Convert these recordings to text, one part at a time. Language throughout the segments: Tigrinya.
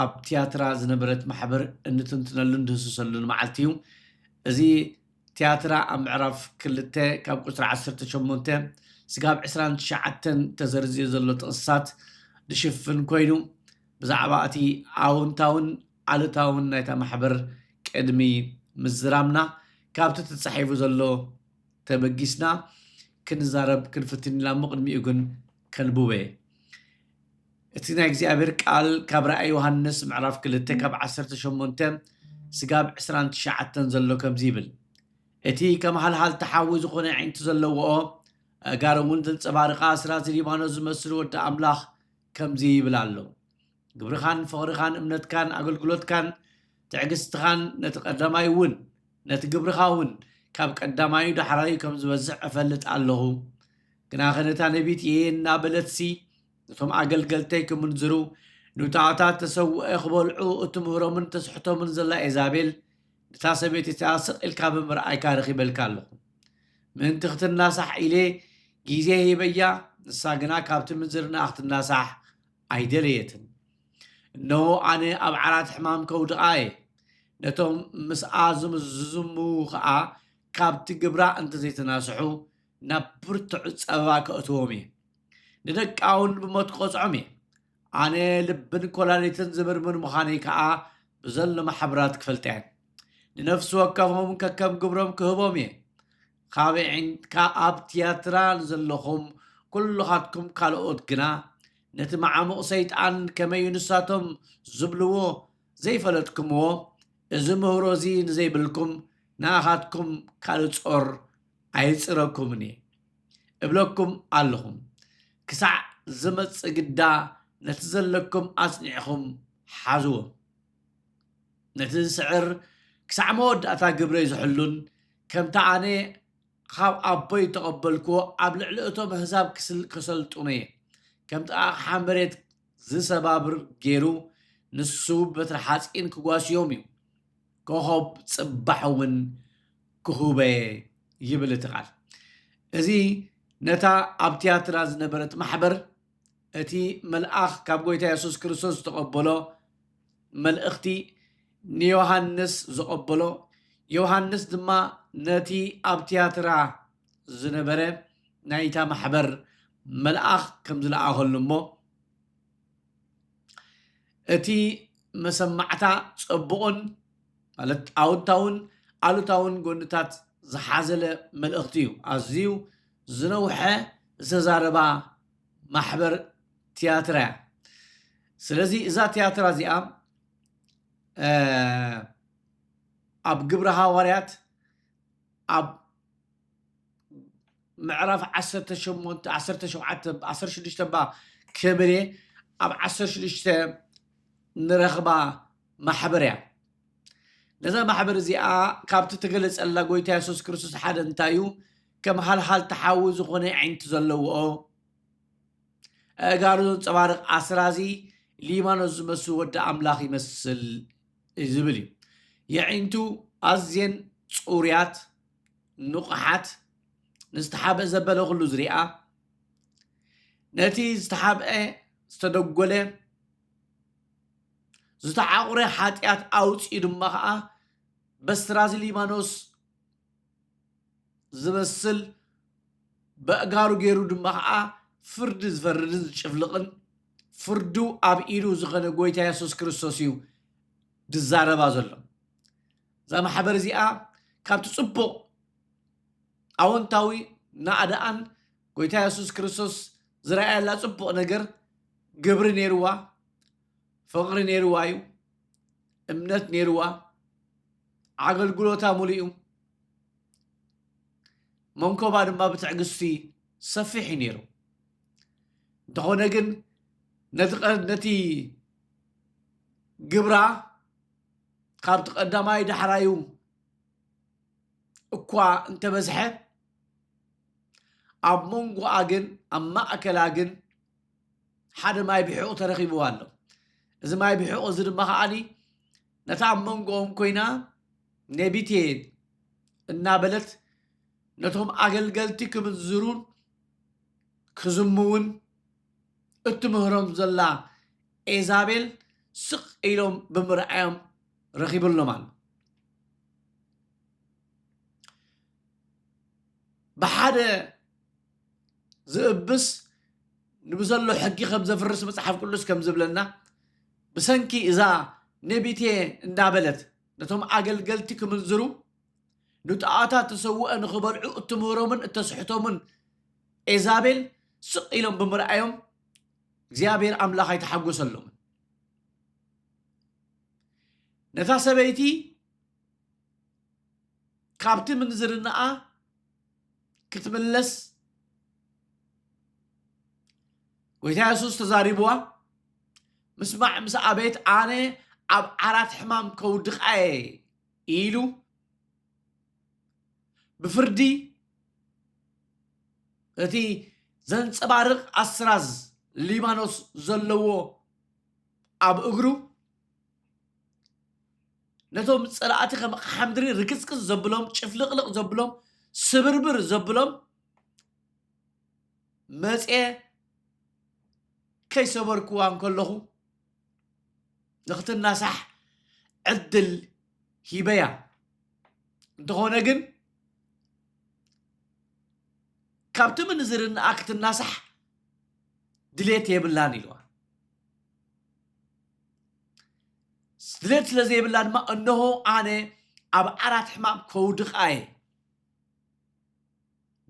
ኣብ ትያትራ ዝነበረት ማሕበር እንትንትነሉን ድህስሰሉን መዓልቲ እዩ። እዚ ትያትራ ኣብ ምዕራፍ ክልተ ካብ ቁጽሪ ዓሰርተ ሸሞንተ ስጋብ ዕስራን ትሽዓተን ተዘርዝዩ ዘሎ ጥቕስታት ድሽፍን ኮይኑ ብዛዕባ እቲ ኣወንታውን ኣሉታውን ናይታ ማሕበር ቅድሚ ምዝራምና ካብቲ ተጻሒፉ ዘሎ ተበጊስና ክንዛረብ ክንፍትን ኢና'ሞ ቅድሚኡ ግን ከንቡበ። እቲ ናይ እግዚኣብሔር ቃል ካብ ራእይ ዮሐንስ ምዕራፍ ክልተ ካብ ዓሰርተ ሸሞንተ ስጋብ ዕስራን ትሽዓተን ዘሎ ከምዚ ይብል እቲ ከም ሃልሃልታ ሓዊ ዝኾነ ኣዒንቲ ዘለዎኦ ኣእጋር እውን ዘንጸባርቃ ስራዚ ሊባኖስ ዝመስል ወዲ ኣምላኽ ከምዚ ይብል ኣሎ ግብርኻን ፍቕርኻን እምነትካን ኣገልግሎትካን ትዕግስትኻን ነቲ ቀዳማይ እውን ነቲ ግብርኻ እውን ካብ ቀዳማዩ ዳሕራዩ ከም ዝበዝሕ እፈልጥ ኣለኹ ግናኸ ነታ ነቢት እየ እናበለትሲ ነቶም ኣገልገልተይ ክምንዝሩ፣ ንውታዖታት ተሰውኦኤ ክበልዑ እትምህሮምን እተስሕቶምን ዘላ ኤዛቤል፣ ነታ ሰበይቲ እቲኣ ስቕ ኢልካ ብምርኣይካ ረኺበልካ ኣለኹ። ምእንቲ ክትናሳሕ ኢሌ ጊዜ ሂበያ፣ ንሳ ግና ካብቲ ምንዝርናኣ ክትናሳሕ ኣይደለየትን። እነሆ ኣነ ኣብ ዓራት ሕማም ከውድቓ እየ፣ ነቶም ምስኣ ዝምዝዙሙ ኸኣ ካብቲ ግብራ እንተ ዘይተናስሑ፣ ናብ ብርቱዕ ጸበባ ከእትዎም እየ፣ ንደቃውን ብሞት ክቐጽዖም እየ። ኣነ ልብን ኰላሊትን ዝምርምር ምዃነይ ከኣ ብዘሎ ማሕበራት ክፈልጣ እየን። ንነፍሲ ወከፎም ከከም ግብሮም ክህቦም እየ። ካብ ዒንካ ኣብ ትያትራ ንዘለኹም ኵልኻትኩም ካልኦት ግና፣ ነቲ መዓሙቕ ሰይጣን ከመዩ ንሳቶም ዝብልዎ ዘይፈለጥኩምዎ፣ እዚ ምህሮ እዚ ንዘይብልኩም ንኣኻትኩም ካልእ ጾር ኣይጽረኩምን እየ እብለኩም ኣለኹም ክሳዕ ዝመጽእ ግዳ ነቲ ዘለኩም ኣጽኒዕኹም ሓዝዎ ነቲ ዝስዕር ክሳዕ መወዳእታ ግብረይ ዝሕሉን ከምቲ ኣነ ኻብ ኣቦይ እተቐበልክዎ ኣብ ልዕሊ እቶም ኣህዛብ ከሰልጥኖ እየ ከምቲ ኣቕሓ መሬት ዝሰባብር ገይሩ ንሱ ብበትሪ ሓጺን ክጓስዮም እዩ ኮኾብ ጽባሕ እውን ክሁበ'የ ይብል እቲ ቃል። እዚ ነታ ኣብ ትያትራ ዝነበረት ማሕበር እቲ መልኣኽ ካብ ጎይታ የሱስ ክርስቶስ ዝተቐበሎ መልእኽቲ ንዮሃንስ ዘቐበሎ ዮሃንስ ድማ ነቲ ኣብ ትያትራ ዝነበረ ናይታ ማሕበር መልኣኽ ከም ዝለኣኸሉ እሞ እቲ መሰማዕታ ጸቡቕን ማለት ኣውንታውን ኣሉታውን ጎንታት ዝሓዘለ መልእኽቲ እዩ። ኣዝዩ ዝነውሐ ዝተዛረባ ማሕበር ትያትራ እያ። ስለዚ እዛ ትያትራ እዚኣ ኣብ ግብረ ሃዋርያት ኣብ ምዕራፍ ዓሰርተ ሸሞንተ ዓሰርተ ሸውዓተ ዓሰርተ ሽዱሽተ እባ ክብል እየ ኣብ ዓሰርተ ሽዱሽተ ንረኽባ ማሕበር እያ ነዛ ማሕበር እዚኣ ካብቲ ተገለጸላ ጎይታ የሱስ ክርስቶስ ሓደ እንታይ እዩ ከም ሃልሃል ተሓዊ ዝኾነ ዓይንቲ ዘለዎ ኣእጋሩ ዘንፀባርቕ ኣስራዚ ሊባኖስ ዝመስል ወዲ ኣምላኽ ይመስል ዝብል እዩ የዒንቱ ኣዝየን ፅሩያት ንቑሓት ንዝተሓብአ ዘበለ ኩሉ ዝርኣ ነቲ ዝተሓብአ ዝተደጎለ ዝተዓቑረ ሓጢኣት ኣውፅኡ ድማ ከዓ በስትራዚ ሊባኖስ ዝመስል በእጋሩ ገይሩ ድማ ከዓ ፍርዲ ዝፈርድን ዝጭፍልቕን ፍርዱ ኣብ ኢዱ ዝኾነ ጎይታ የሱስ ክርስቶስ እዩ ድዛረባ ዘሎ እዛ ማሕበር እዚኣ ካብቲ ጽቡቕ ኣወንታዊ ናእዳኣን ጎይታ የሱስ ክርስቶስ ዝረኣየላ ጽቡቕ ነገር ግብሪ ነይርዋ፣ ፍቕሪ ነይርዋ እዩ፣ እምነት ነይርዋ፣ ኣገልግሎታ ሙሉእ እዩ፣ መንኮባ ድማ ብትዕግስቲ ሰፊሕ እዩ ነይሩ። እንተኾነ ግን ነቲ ግብራ ካብቲ ቀዳማይ ዳሕራዩ እኳ እንተበዝሐ ኣብ መንጎኣ ግን ኣብ ማእከላ ግን ሓደ ማይ ብሕቑ ተረኺብዋ ኣሎ እዚ ማይ ብሕቑ እዚ ድማ ከዓኒ ነታ ኣብ መንጎኦም ኮይና ኔቢቴ እናበለት ነቶም ኣገልገልቲ ክምንዝሩን ክዝምውን እትምህሮም ዘላ ኤዛቤል ስቕ ኢሎም ብምርኣዮም ረኺቡሎም ኣሎ። ብሓደ ዝእብስ ንብዘሎ ሕጊ ከም ዘፍርስ መጽሓፍ ቅዱስ ከም ዝብለና ብሰንኪ እዛ ነቢቴ እንዳበለት ነቶም ኣገልገልቲ ክምንዝሩ ንጣዖታት ተሰውኦ ንኽበልዑ እትምህሮምን እተስሕቶምን ኤዛቤል ስቕ ኢሎም ብምርኣዮም እግዚኣብሔር ኣምላኽ ኣይተሓጎሰሎምን ነታ ሰበይቲ ካብቲ ምንዝርናኣ ክትምለስ ጎይታ የሱስ ተዛሪብዋ ምስማዕ ምስ ኣቤት ኣነ ኣብ ዓራት ሕማም ከውድቃ እየ ኢሉ ብፍርዲ እቲ ዘንፀባርቕ ኣስራዝ ሊባኖስ ዘለዎ ኣብ እግሩ ነቶም ፀላእቲ ከም ሓምድሪ ርክፅክፅ ዘብሎም ጭፍልቕልቕ ዘብሎም ስብርብር ዘብሎም መፅየ ከይሰበርኩዋ እንከለኹ ንክትናሳሕ ዕድል ሂበያ እንተኾነ ግን ካብቲ ምንዝርንኣ ክትናሳሕ ድሌት የብላን ኢልዋ ድሌት ስለ ዘይብላ ድማ እነሆ ኣነ ኣብ ዓራት ሕማም ከውድቃ እየ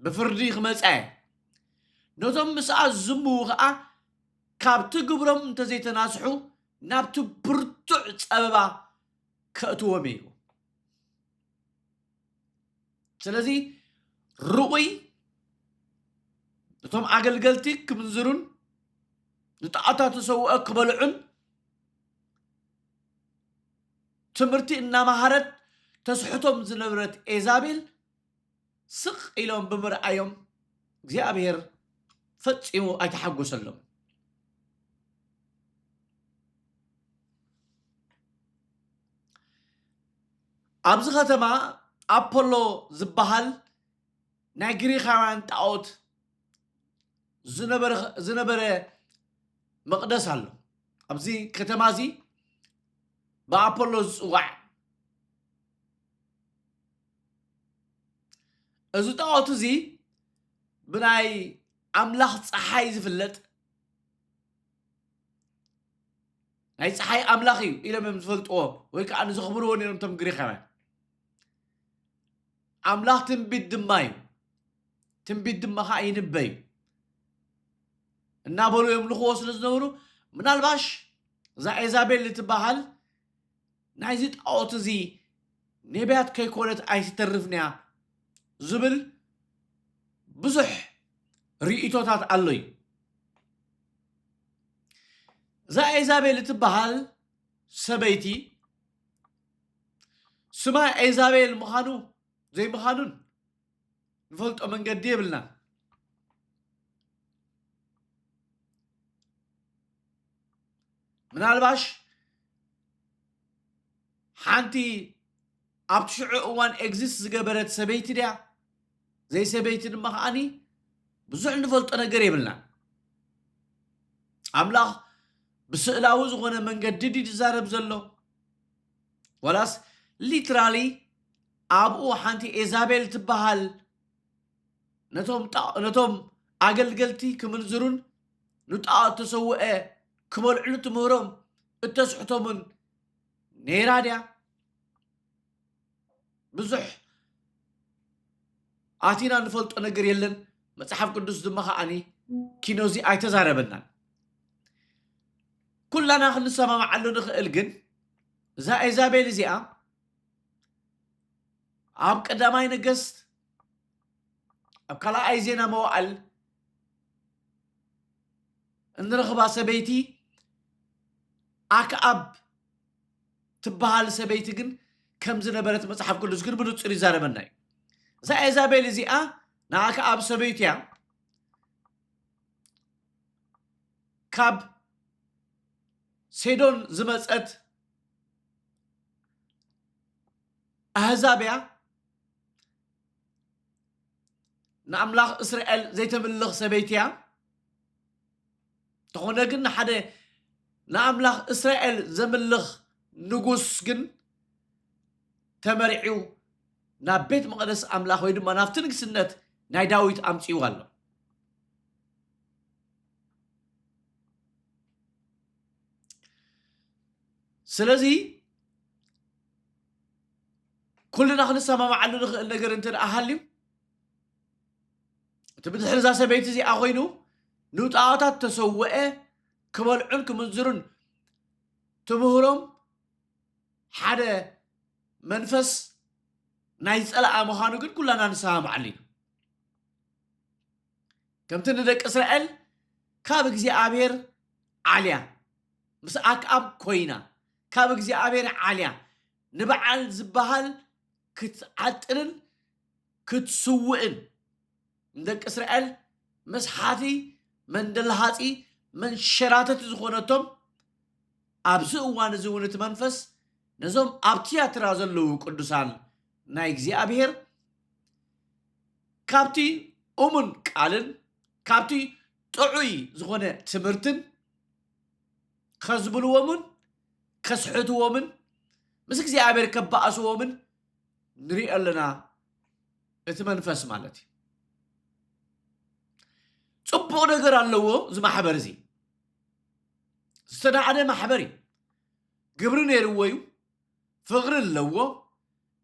ብፍርዲ ክመፃ እየ ነቶም ምስኣ ዝዝምዉ ከዓ ካብቲ ግብሮም እንተዘይተናስሑ ናብቲ ብርቱዕ ጸበባ ከእትዎም እዩ ኢልዎም። ስለዚ ርኡይ እቶም ኣገልገልቲ ክምንዝሩን ንጣዖታት ዝሰውኦ ክበልዑን ትምህርቲ እናመሃረት ተስሕቶም ዝነበረት ኤዛቤል ስቕ ኢሎም ብምርኣዮም እግዚኣብሄር ፈጺሙ ኣይተሓጐሰሎምን። ኣብዚ ኸተማ ኣፖሎ ዝበሃል ናይ ግሪኻውያን ጣዖት ዝነበረ- ዝነበረ መቕደስ ኣሎ። ኣብዚ ከተማ እዚ ብኣፖሎ ዝጽዋዕ እዚ ጣዖት እዚ ብናይ ኣምላኽ ፀሓይ ዝፍለጥ ናይ ፀሓይ ኣምላኽ እዩ ኢሎም እዮም ዝፈልጥዎ ወይ ከዓ ንዘኽብርዎ ነይሮም እቶም ግሪኻውያን ኣምላኽ ትንቢት ድማ እዩ ትንቢት ድማ ከዓ ይንበ እዩ እናበሉ የምልኽዎ ስለ ዝነበሩ ምናልባሽ እዛ ኤዛቤል እትበሃል ናይዚ ጣኦት እዚ ኔብያት ከይኮነት ኣይትተርፍን እያ ዝብል ብዙሕ ሪኢቶታት ኣሎ እዩ እዛ ኤዛቤል እትበሃል ሰበይቲ ስማ ኤዛቤል ምዃኑ ዘይምዃኑን ንፈልጦ መንገዲ የብልና ምናልባሽ ሓንቲ ኣብቲ ሽዑ እዋን ኤግዚስት ዝገበረት ሰበይቲ ድያ ዘይሰበይቲ ድማ ከዓኒ ብዙሕ ንፈልጦ ነገር የብልና ኣምላኽ ብስእላዊ ዝኾነ መንገዲ ድዩ ዝዛረብ ዘሎ ዋላስ ሊትራሊ ኣብኡ ሓንቲ ኤዛቤል እትበሃል ነቶም ኣገልገልቲ ክምንዝሩን ንጣዖት እተሰውአ ክበልዕሉ እትምህሮም እተስሕቶምን ነይራ ድያ? ብዙሕ ኣቲና ንፈልጦ ነገር የለን መጽሓፍ ቅዱስ ድማ ከዓኒ ኪኖዚ ኣይተዛረበናን ኩላና ክንሰማምዓሉ ንኽእል ግን እዛ ኤዛቤል እዚኣ ኣብ ቀዳማይ ነገስት ኣብ ካልኣይ ዜና መዋዕል እንረኽባ ሰበይቲ ኣክኣብ ትበሃል ሰበይቲ ግን ከም ዝነበረት መጽሓፍ ቅዱስ ግን ብንጹር ይዛረበና እዩ እዛ ኤዛቤል እዚኣ ንኣክኣብ ሰበይቱ እያ ካብ ሴዶን ዝመፀት ኣህዛብ እያ ንኣምላኽ እስራኤል ዘይተምልኽ ሰበይቲ እያ እንተኾነ ግን ንሓደ ንኣምላኽ እስራኤል ዘምልኽ ንጉስ ግን ተመሪዑ ናብ ቤት መቕደስ ኣምላኽ ወይ ድማ ናብቲ ንግስነት ናይ ዳዊት ኣምፅኡ ኣሎ ስለዚ ኩልና ክንሰማማዓሉ ንኽእል ነገር እንተ ደኣ ሃልዩ እቲ ብድሕሪ እዛ ሰበይቲ እዚኣ ኮይኑ ንውጣዋታት ተሰውአ ክበልዑን ክምንዝሩን ትምህሮም ሓደ መንፈስ ናይ ፀላኣ ምዃኑ ግን ኩላና ንሰማማዓሉ ኢና ከምቲ ንደቂ እስራኤል ካብ እግዚኣብሔር ዓልያ ምስ ኣክኣብ ኮይና ካብ እግዚኣብሔር ዓልያ ንበዓል ዝበሃል ክትዓጥንን ክትስውእን ንደቂ እስራኤል መስሓቲ መንደልሃፂ መንሸራተቲ ዝኾነቶም ኣብዚ እዋን እዚ እውን እቲ መንፈስ ነዞም ኣብ ትያትራ ዘለዉ ቅዱሳን ናይ እግዚኣብሔር ካብቲ እሙን ቃልን ካብቲ ጥዑይ ዝኾነ ትምህርትን ከዝብልዎምን ከስሕትዎምን ምስ እግዚኣብሔር ከባእስዎምን ንሪኦ ኣለና እቲ መንፈስ ማለት እዩ ፅቡቅ ነገር ኣለዎ እዚ ማሕበር እዚ ዝተናዕደ ማሕበር እዩ ግብሪ ነይርዎ እዩ ፍቕሪ ኣለዎ፣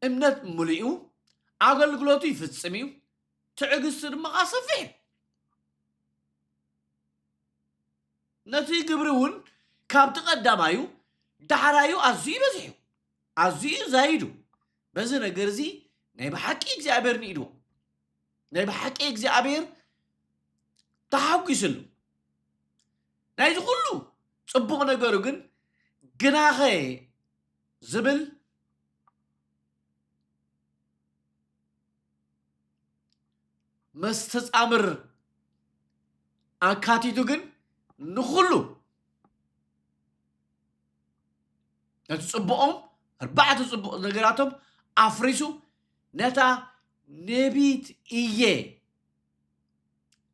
እምነት ምሉእ እዩ፣ ኣገልግሎቱ ይፍጽም እዩ፣ ትዕግስቱ ድማ ኸኣ ሰፊሕ እዩ። ነቲ ግብሪ እውን ካብቲ ቀዳማዩ ዳሕራዩ ኣዝዩ በዚሑ ኣዝዩ ዛይዱ በዚ ነገር እዚ ናይ ብሓቂ እግዚኣብሔር ንኢድዎ ናይ ብሓቂ እግዚኣብሔር ተሓጒስሉ ናይዚ ኩሉ ጽቡቕ ነገሩ ግን ግናኸ ዝብል መስተጻምር ኣካቲቱ ግን ንኹሉ ነቲ ጽቡቖም ኣርባዕተ ጽቡቕ ነገራቶም ኣፍሪሱ ነታ ነቢት እየ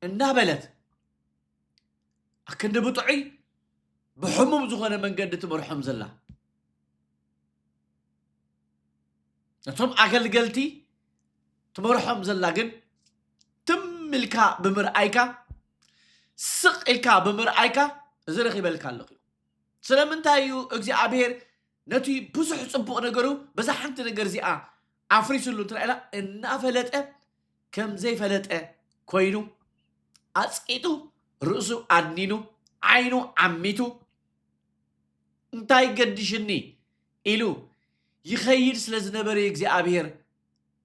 እናበለት ኣክንዲ ብጥዑይ ብሕሙም ዝኾነ መንገዲ ትመርሖም ዘላ ነቶም ኣገልገልቲ ትመርሖም ዘላ ግን ትም ኢልካ ብምርኣይካ ስቕ ኢልካ ብምርኣይካ እዚ ረኺበልካ ኣለኹ ስለምንታይ እዩ እግዚኣብሄር ነቲ ብዙሕ ፅቡቕ ነገሩ በዛ ሓንቲ ነገር እዚኣ ኣፍሪስሉ እንትና ኢላ እናፈለጠ ከም ዘይፈለጠ ኮይኑ ኣጽቂጡ ርእሱ ኣድኒኑ ዓይኑ ዓሚቱ እንታይ ገዲሽኒ ኢሉ ይኸይድ ስለ ዝነበረ እግዚኣብሔር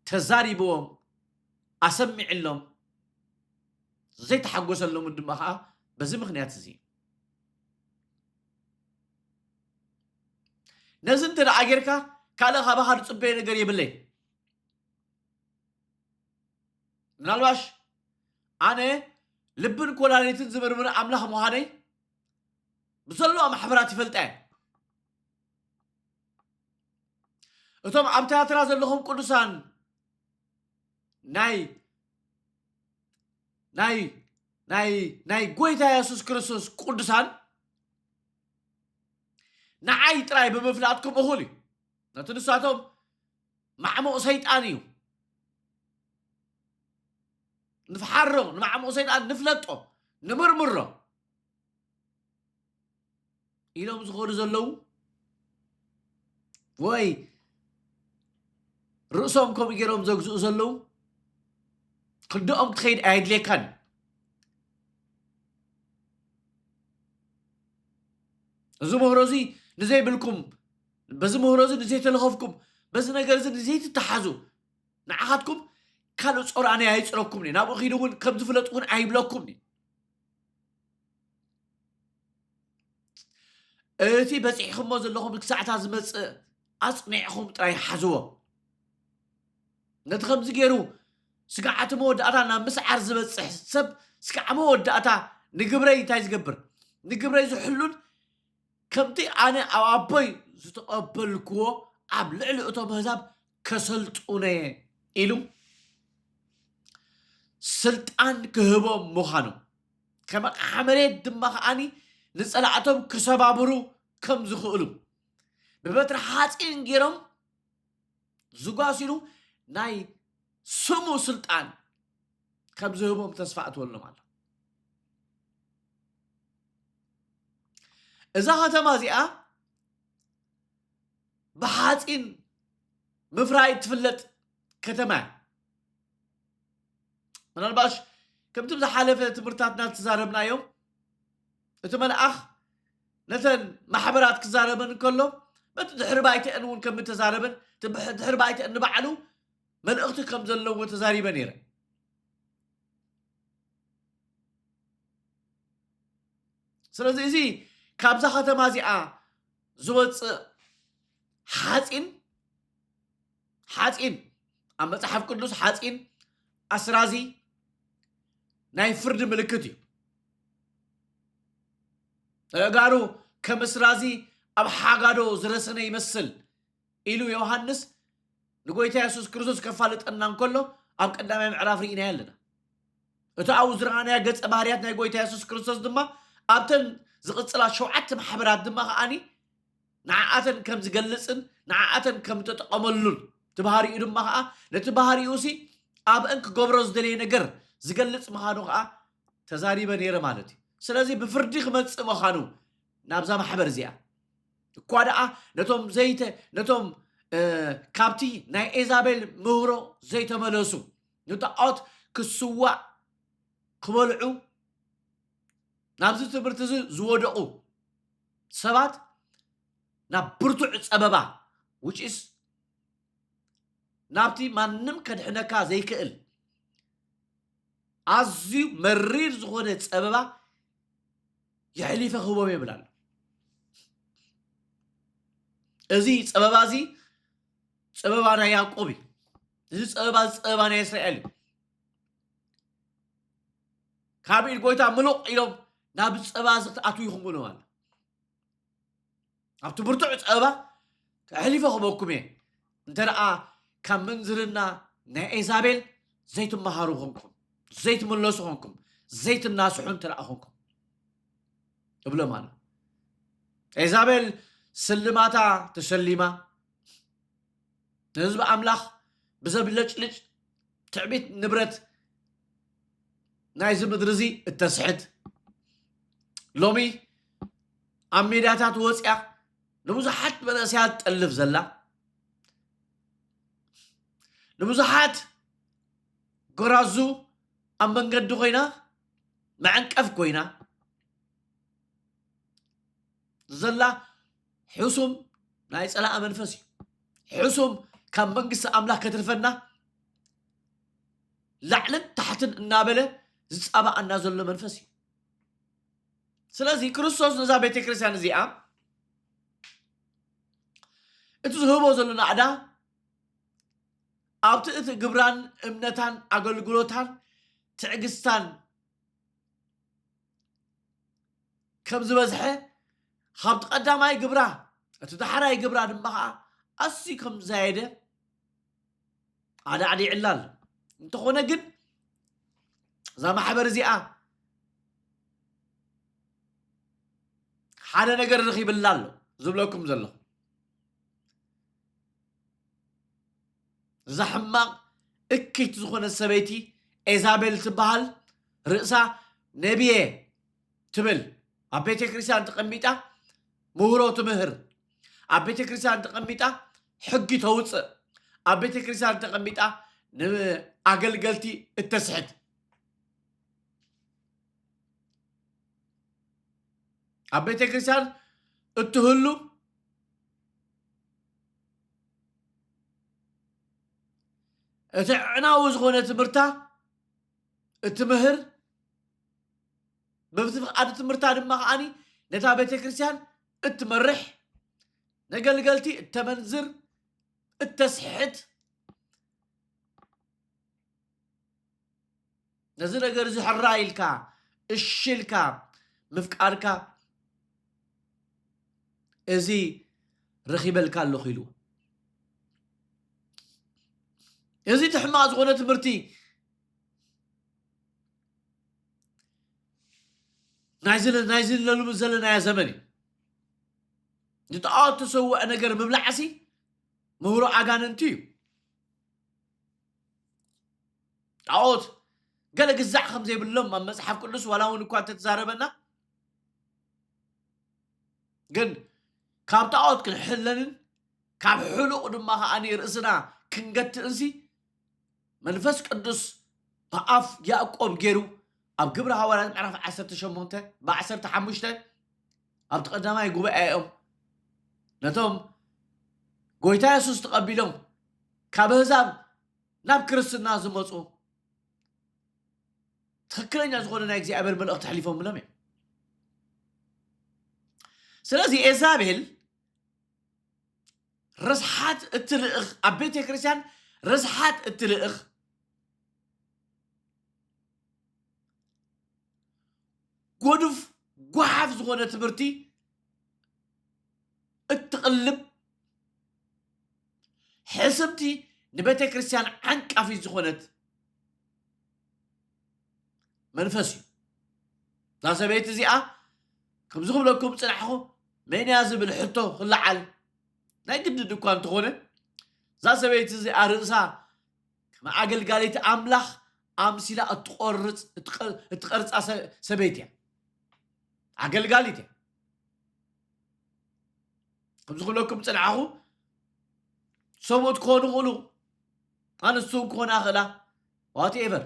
ተዛሪብዎም ኣሰሚዕሎም ዘይተሓጎሰሎምን ድማ ከዓ በዚ ምክንያት እዚ ነዚ እንተ ደኣ ጌርካ ካልእ ካባኻ ዝፅበዮ ነገር የብለይ ምናልባሽ ኣነ ልብን ኮላሊትን ዝምርምር ኣምላኽ ምዃነይ ብዘለዋ ማሕበራት ይፈልጣ እየ እቶም ኣብ ትያትራ ዘለኹም ቅዱሳን ናይ ናይ ናይ ናይ ጎይታ የሱስ ክርስቶስ ቅዱሳን ንዓይ ጥራይ ብምፍላጥኩም እኹል እዩ ነቲ ንሳቶም ማዕሙቕ ሰይጣን እዩ ንፍሓሮ ንማዕሙቕ ሰይጣን ንፍለጦ ንምርምሮ ኢሎም ዝኾኑ ዘለዉ ወይ ርእሶም ከምኡ ገይሮም ዘግዝኡ ዘለዉ ክንደኦም ክትኸይድ ኣየድልየካን እዚ ምህሮ እዚ ንዘይብልኩም በዚ ምህሮ እዚ ንዘይተለኸፍኩም፣ በዚ ነገር እዚ ንዘይትተሓዙ፣ ንዓኻትኩም ካልእ ጾር ኣነ ኣይጽረኩምኒ፣ ናብኡ ኺዱ እውን ከም ዝፍለጥ እውን ኣይብለኩምኒ። እቲ በጺሕኹሞ ዘለኹም ክሳዕታ ዝመጽእ ኣጽኒዕኹም ጥራይ ሓዝዎ። ነቲ ከምዚ ገይሩ ስግዓቲ መወዳእታ ናብ ምስዓር ዝበጽሕ ሰብ ስግዓ መወዳእታ ንግብረይ እንታይ ዝገብር ንግብረይ ዝሕሉን ከምቲ ኣነ ኣብ ኣቦይ ዝተቐበልክዎ ኣብ ልዕሊ እቶም ኣህዛብ ከሰልጡነየ ኢሉ ስልጣን ክህቦም ምዃኑ ከም ኣቕሓ መሬት ድማ ከዓኒ ንጸላእቶም ክሰባብሩ ከም ዝኽእሉ ብበትሪ ሓጺን ገይሮም ዝጓሲሉ ናይ ስሙ ስልጣን ከም ዝህቦም ተስፋ እትወሎም ኣሎ እዛ ከተማ እዚኣ ብሓፂን ምፍራይ እትፍለጥ ከተማ እያ ምናልባሽ ከምቲ ዝሓለፈ ትምህርትታትና እተዛረብናዮም እቲ መልኣኽ ነተን ማሕበራት ክዛረበን እንከሎ በቲ ድሕሪ ባይተአን እውን ከም እተዛረበን ድሕሪ ባይተአን ንባዕሉ መልእኽቲ ከም ዘለዎ ተዛሪበ ነይረ። ስለዚ እዚ ካብዛ ከተማ እዚኣ ዝወፅእ ሓፂን ሓፂን ኣብ መፅሓፍ ቅዱስ ሓፂን ኣስራዚ ናይ ፍርዲ ምልክት እዩ ተጋሩ ከም እስራዚ ኣብ ሓጋዶ ዝረሰነ ይመስል ኢሉ ዮሃንስ ንጎይታ የሱስ ክርስቶስ ከፋልጠና እንከሎ ኣብ ቀዳማይ ምዕራፍ ርኢናዮ ኣለና። እታ ኣብኡ ዝረኣናያ ገጸ ባህርያት ናይ ጎይታ የሱስ ክርስቶስ ድማ ኣብተን ዝቕጽላ ሸውዓተ ማሕበራት ድማ ከኣኒ ንዓኣተን ከም ዝገልጽን ንዓኣተን ከም እተጠቐመሉን እቲ ባህሪኡ ድማ ከዓ ነቲ ባህሪኡሲ ኣብአን ክገብሮ ዝደለየ ነገር ዝገልጽ ምዃኑ ከዓ ተዛሪበ ነይረ ማለት እዩ ስለዚ ብፍርዲ ክመጽእ ምዃኑ ናብዛ ማሕበር እዚኣ እኳ ደኣ ነቶም ዘይተ ነቶም ካብቲ ናይ ኤዛቤል ምህሮ ዘይተመለሱ ንጣዖት ክስዋዕ ክበልዑ ናብዚ ትምህርቲ እዚ ዝወደቑ ሰባት ናብ ብርቱዕ ጸበባ ውጪስ ናብቲ ማንም ከድሕነካ ዘይክእል ኣዝዩ መሪር ዝኾነ ጸበባ የሕሊፈ ክህቦም የብል ኣሎ እዚ ፀበባ እዚ ፀበባ ናይ ያዕቆብ እዩ እዚ ፀበባ እዚ ፀበባ ናይ እስራኤል እዩ ካብ ኢድ ጎይታ ምሉቕ ኢሎም ናብ ፀባ እዚ ክትኣትዉ ይኹምብሎም ኣሎ ኣብቲ ብርቱዕ ጸባ ተሕሊፈ ክበኩም እየ እንተ ደኣ ካብ ምንዝርና ናይ ኤዛቤል ዘይትመሃሩ ኾንኩም ዘይትምለሱ ኾንኩም ዘይትናስሑ እንተ ደኣ ኾንኩም እብሎም ኣሎ ኤዛቤል ስልማታ ተሸሊማ ንህዝቢ ኣምላኽ ብዘብለጭልጭ ትዕቢት ንብረት ናይዚ ምድሪ እዚ እተስሕት ሎሚ ኣብ ሜዳታት ወፅያ ንብዙሓት መንእሰያት ጠልፍ ዘላ ንብዙሓት ጎራዙ ኣብ መንገዲ ኮይና መዐንቀፍ ኮይና ዘላ ሕሱም ናይ ፀላእ መንፈስ እዩ ሕሱም ካብ መንግስቲ ኣምላኽ ከትርፈና ላዕልን ታሕትን እናበለ ዝፃባኣና ዘሎ መንፈስ እዩ ስለዚ ክርስቶስ ነዛ ቤተ ክርስቲያን እዚኣ እቲ ዝህቦ ዘሎ ናዕዳ ኣብቲ እቲ ግብራን እምነታን ኣገልግሎታን ትዕግስታን ከም ዝበዝሐ ካብቲ ቀዳማይ ግብራ እቲ ዳሕራይ ግብራ ድማ ከዓ ኣዝዩ ከም ዝዛየደ ኣዳዕዲዕላ ኣሎ እንተኾነ ግን እዛ ማሕበር እዚኣ ሓደ ነገር ረኺብላ ኣሎ ዝብለኩም ዘለኹ እዛ ሕማቕ እክት ዝኾነ ሰበይቲ ኤዛቤል ትበሃል ርእሳ ነብየ ትብል ኣብ ቤተ ክርስቲያን ተቐሚጣ ምህሮ ትምህር ኣብ ቤተ ክርስቲያን ተቐሚጣ ሕጊ ተውፅእ ኣብ ቤተ ክርስቲያን ተቐሚጣ ንኣገልገልቲ እተስሕት ኣብ ቤተ ክርስቲያን እትህሉ እቲ ዕናዊ ዝኾነ ትምህርታ እትምህር በብቲ ፍቓድ ትምህርታ ድማ ከዓኒ ነታ ቤተ ክርስቲያን እትመርሕ ነገልገልቲ እተመንዝር እተስሕት ነዚ ነገር እዚ ሕራ ኢልካ እሺ ኢልካ ምፍቃድካ እዚ ረኺበልካ ኣለኹ ኢሉ እዚ እቲ ሕማቕ ዝኾነ ትምህርቲ ናይዚ ናይዚ ለሉሚ ዘለናዮ ዘመን እዩ ንጣዖት ተሰውዐ ነገር ምብላዕሲ ምህሮ ኣጋንንቲ እዩ ጣዖት ገለ ግዛዕ ከም ዘይብሎም ኣብ መጽሓፍ ቅዱስ ዋላ እውን እኳ እንተተዛረበና ግን ካብ ጣዖት ክንሕለንን ካብ ሕሉቕ ድማ ከዓኒ ርእስና ክንገትእንሲ መንፈስ ቅዱስ ብኣፍ ያእቆብ ገይሩ ኣብ ግብሪ ሃዋርያት ምዕራፍ ዓሰርተ ሸሞንተ ብዓሰርተ ሓሙሽተ ኣብቲ ቀዳማይ ጉባኤኦም ነቶም ጎይታ የሱስ ተቐቢሎም ካብ ኣህዛብ ናብ ክርስትና ዝመፁ ትክክለኛ ዝኾነ ናይ እግዚኣብሔር መልእኽቲ ኣሕሊፎምሎም እዮም ስለዚ ኤዛቤል ርስሓት እትልእኽ ኣብ ቤተ ክርስቲያን ርስሓት እትልእኽ ጎዱፍ ጓሓፍ ዝኾነ ትምህርቲ እትቕልብ ሕስምቲ ንቤተ ክርስቲያን ዓንቃፊት ዝኾነት መንፈስ እዩ እዛ ሰበይቲ እዚኣ ከምዚ ክብለኩም ፅናሕኹ መን እያ ዝብል ሕቶ ክለዓል ናይ ግድድ እኳ እንተኾነ እዛ ሰበይቲ እዚኣ ርእሳ ከም ኣገልጋሊት ኣምላኽ ኣምሲላ እትቆርፅ እትቀርፃ ሰበይቲ እያ ኣገልጋሊት እያ ከምዚ ክብለኩም ፅናዕኹ ሰብኡት ክኾኑ ክእሉ ኣንስቱ ክኾና ክእላ ዋት ኤቨር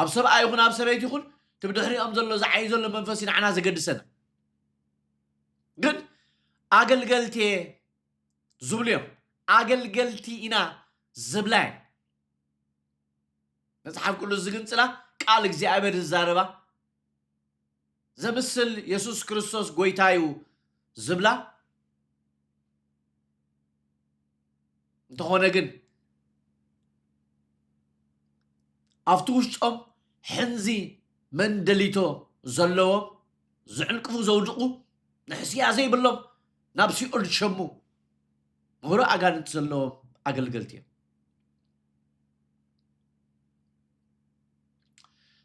ኣብ ሰብኣይ ይኹን ኣብ ሰበይቲ ይኹን እቲ ብድሕሪኦም ዘሎ ዝዓይ ዘሎ መንፈስ እዩ ንዓና ዘገድሰና ግን ኣገልገልቲ እየ ዝብሉ እዮም ኣገልገልቲ ኢና ዝብላ እየን መፅሓፍ ቅዱስ ዝግንፅላ ቃል እግዚኣብሔር ዝዛረባ ዘምስል የሱስ ክርስቶስ ጎይታ እዩ ዝብላ እንተኾነ ግን ኣብቲ ውሽጦም ሕንዚ መንደሊቶ ዘለዎም ዝዕንቅፉ ዘውድቑ ንሕስያ ዘይብሎም ናብ ሲኦል ዝሸሙ ምህሮ ኣጋንንቲ ዘለዎም ኣገልገልቲ እዮም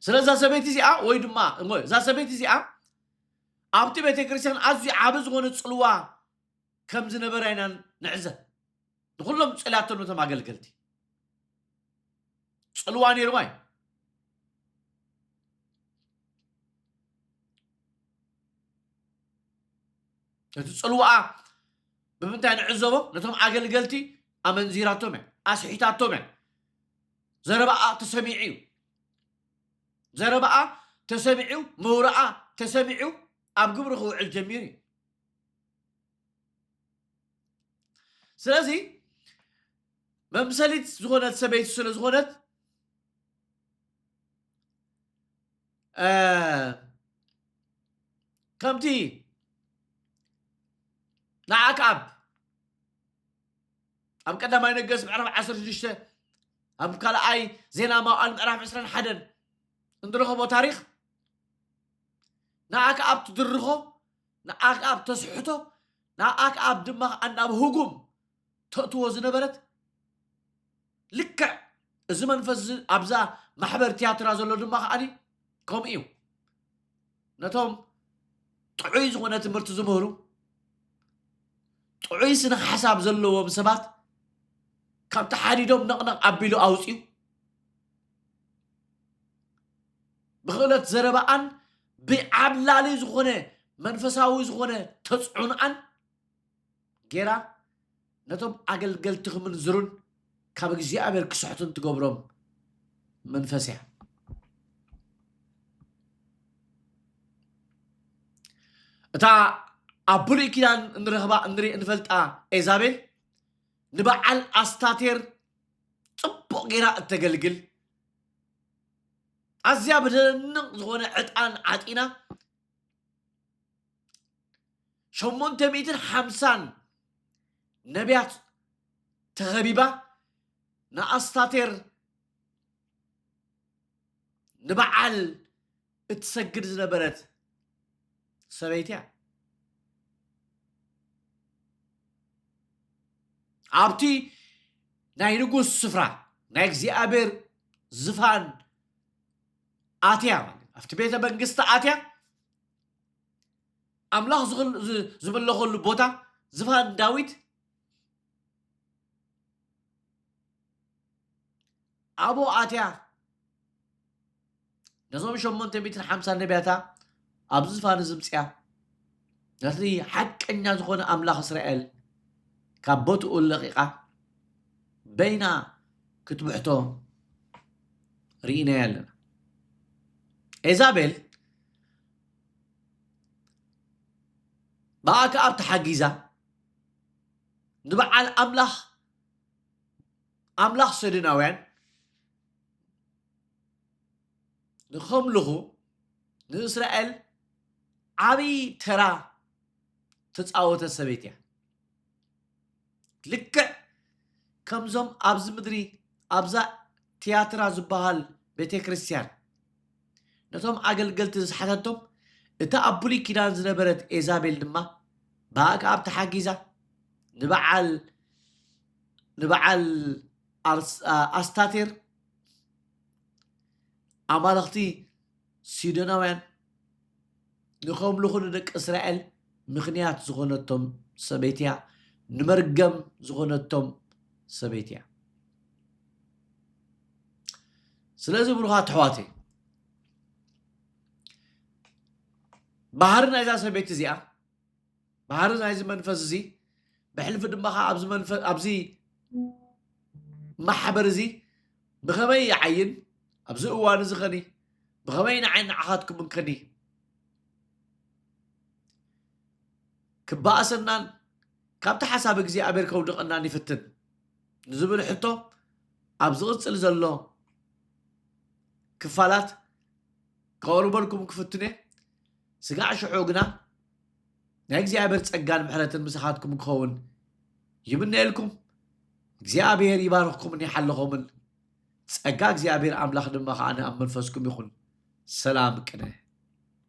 ስለዛ ሰበይቲ እዚኣ ወይ ድማ እሞ እዛ ሰበይቲ እዚኣ ኣብቲ ቤተ ክርስቲያን ኣዝዩ ዓቢ ዝኾነ ጽልዋ ከም ዝነበራ ኢና ንዕዘብ ንኹሎም ጸልያቶም ነቶም ኣገልገልቲ ጽልዋ ነይርዋ እዩ እቲ ጽልዋኣ ብምንታይ ንዕዘቦ ነቶም ኣገልገልቲ ኣመንዚራቶም እያ ኣስሒታቶም እያ ዘረባኣ ተሰሚዑ'ዩ። ዘረባኣ ተሰሚዑ፣ መውራኣ ተሰሚዑ፣ ኣብ ግብሪ ክውዕል ጀሚሩ'ዩ። ስለዚ መምሰሊት ዝኾነት ሰበይቲ ስለ ዝኾነት ከምቲ ንኣክኣብ ኣብ ቀዳማይ ነገስ ምዕራፍ ዓሰርተ ሽዱሽተ ኣብ ካልኣይ ዜና መዋዕል ምዕራፍ ዕስራን ሓደን እንረኸቦ ታሪኽ ንኣ ከኣብ ትድርኾ ንኣ ከኣብ ተስሕቶ ንኣ ከኣብ ድማ ከዓ ናብ ህጉም ተእትዎ ዝነበረት ልክዕ እዚ መንፈስ እዚ ኣብዛ ማሕበር ትያትራ ዘሎ ድማ ከዓኒ ከምኡ እዩ ነቶም ጥዑይ ዝኾነ ትምህርቲ ዝምህሩ ጥዑይ ስነ ሓሳብ ዘለዎም ሰባት ካብ ተሓዲዶም ነቕነቕ ኣቢሉ ኣውፅዩ ብክእለት ዘረባኣን ብዓብላሊ ዝኾነ መንፈሳዊ ዝኾነ ተፅዕኖኣን ጌራ ነቶም ኣገልገልቲ ክምንዝሩን ካብ እግዚኣብሔር ክስሕቱን ትገብሮም መንፈስ እያ እታ ኣብ ብሉይ ኪዳን እንረኽባ እንሪእ እንፈልጣ ኤዛቤል ንበዓል ኣስታቴር ፅቡቅ ጌራ እተገልግል ኣዝያ ብደንቕ ዝኾነ ዕጣን ዓጢና ሸሞንተ ሚእትን ሓምሳን ነቢያት ተኸቢባ ንኣስታቴር ንበዓል እትሰግድ ዝነበረት ሰበይቲ እያ ኣብቲ ናይ ንጉስ ስፍራ ናይ እግዚኣብሔር ዝፋን ኣትያ ማለት እዩ። ኣብቲ ቤተ መንግስቲ ኣትያ ኣምላኽ ዝኽል- ዝ- ዝምለኸሉ ቦታ ዝፋን ዳዊት ኣብኡ ኣትያ ነዞም ሸሞንተ ሚእትን ሓምሳን ነቢያታ ኣብዚ ዝፋን እዚ ምፅያ ነቲ ሓቀኛ ዝኾነ ኣምላኽ እስራኤል ካብ ቦትኡ ለቒቓ በይና ክትብሕቶ ርኢናያ ኣለና። ኤዛቤል ብኣክኣብ ተሓጊዛ ንበዓል ኣምላኽ ኣምላኽ ሰድናውያን ንኸምልኹ ንእስራኤል ዓብዪ ተራ ተፃወተ ሰበይቲ እያ ልክዕ ከምዞም ኣብዚ ምድሪ ኣብዛ ትያትራ ዝበሃል ቤተ ክርስቲያን ነቶም ኣገልገልቲ ዝሓተቶም እታ ኣብ ብሉይ ኪዳን ዝነበረት ኤዛቤል ድማ ብኣክኣብ ተሓጊዛ ንበዓል ንበዓል ኣስታቴር ኣማልኽቲ ሲዶናውያን ንኸምልኹ ንደቂ እስራኤል ምኽንያት ዝኾነቶም ሰበይቲ እያ ንመርገም ዝኾነቶም ሰበይቲ እያ ስለዚ ብሩኻት ኣሕዋት ባህሪ ናይዛ ሰበይቲ እዚኣ ባህሪ ናይዚ መንፈስ እዚ ብሕልፊ ድማ ከ ኣብዚ መንፈስ ኣብዚ ማሕበር እዚ ብኸመይ ይዓይን ኣብዚ እዋን እዚ ከኒ ብኸመይ ንዓይ ንዓኻትኩምን ከኒ ክበኣሰናን ካብቲ ሓሳብ እግዚኣብሔር ከውድቐናን ይፍትን ንዝብል ሕቶ ኣብ ዝቕፅል ዘሎ ክፋላት ከቕርበልኩም ክፍትነ ስጋዕ ሽዑ ግና ናይ እግዚኣብሔር ጸጋን ምሕረትን ምሳኻትኩም ክኸውን ይምነየልኩም። እግዚኣብሔር ይባርኽኩምን ይሓልኹምን። ጸጋ እግዚኣብሔር ኣምላኽ ድማ ከኣ ኣብ መንፈስኩም ይኹን። ሰላም ቅነ።